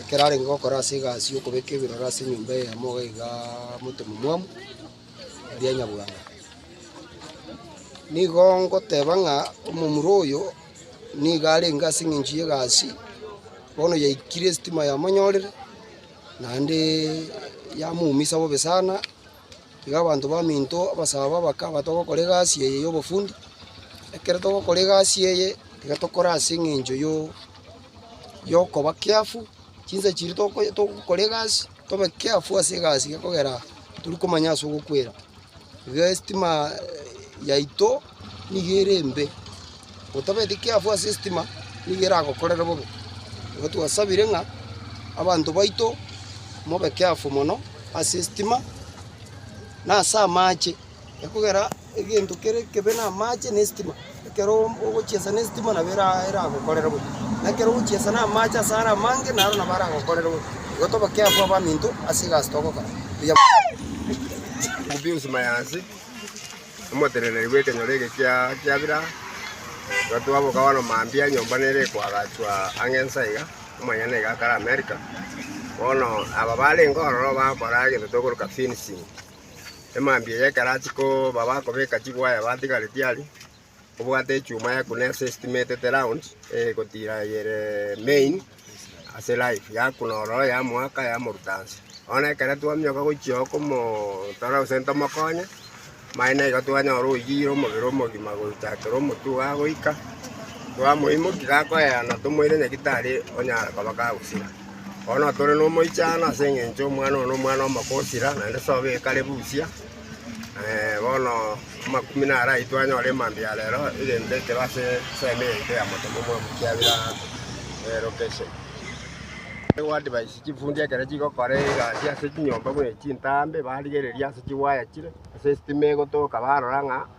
ekero arenge gokora ase egasi y'okobeka ebirore ase enyomba eyemo iga igaa motomomwamu eria nyabwana. Nigo ngoteba ng'a omomura oyo niga arenge ase eng'encho y'egasi, bono yaikire esitima yamonyorire, naendeee yamoumisa bobe sana. Igo abanto baminto abasabo abakaba, Togokora egasi eye y'obofundi. Ekero togokora egasi eye, tiga tokore ase eng'encho y'okoba keafu, chinsa chiria togokora egasi tobe keafu ase egasi iga kogera tiri komanya ase ogokwera. Iga estima yaito. nigo ere embe, gotabeti kiafu ase estima nigo eragokorere bobe. Igo twasabire ng'a abanto baito mobe kiafu mono ase estima na ase amache, ekogera egento kere ekebe na amache na estima, ekero ogochesa na estima nabo era eragokorere bobe, na ekero ogochesa na amache ase are amange naro nabo aragokorere bobe. Igo tobe kiafu abaminto ase egasi togokora, mbuya mono. Omoteneneri bw'ekenyoro eke kia kiabira gatoa bokabano mambia, enyomba nere ekoagachwa ang'e insa iga, omonyene nigo akare Amerika. Bono aba barenge ororo bakora egento tokoroka fencing, emambia eye ekero achia koba bakobeka chiwaya batigaretie aria, obwate echuma ekuna ase estimate round egotira eye ere main. Ase life yaku nororo yamoaka yamoruta nse. Bono ekero twamioka gochia komotora gose tomokonye, mani naigo twanyora oyire omobere omogima gocha toro omotwe iga goika, twamoimokia gakoeana tomoire nyagitari onyare koba kagosira. Bono tore nomoichano ase eng'encho omwana one nomwana omoko osira naende sobo ekare busia. Bono amakumia naro aitwe anyore emambia ya rero, erinde ekero ase ensemo yaito ya motemo omwabo kiabire ase lokeshen. Goadvise chifundi ekero chigokora egasi ase chinyomba buna echi chintambe, barigereria ase chiwaya chire, ase estima egotoka barora ng'a.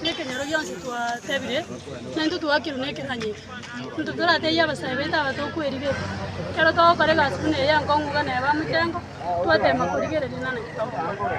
Nekenyoro gionsi twatebire, na intwe twakirwe nekeranyeria. Intwe toratebie abasae baito aba tokwerigera. Ekero togokora egasi buna eye enkong'u iga neba motengo, twateema korigereria nane titokora.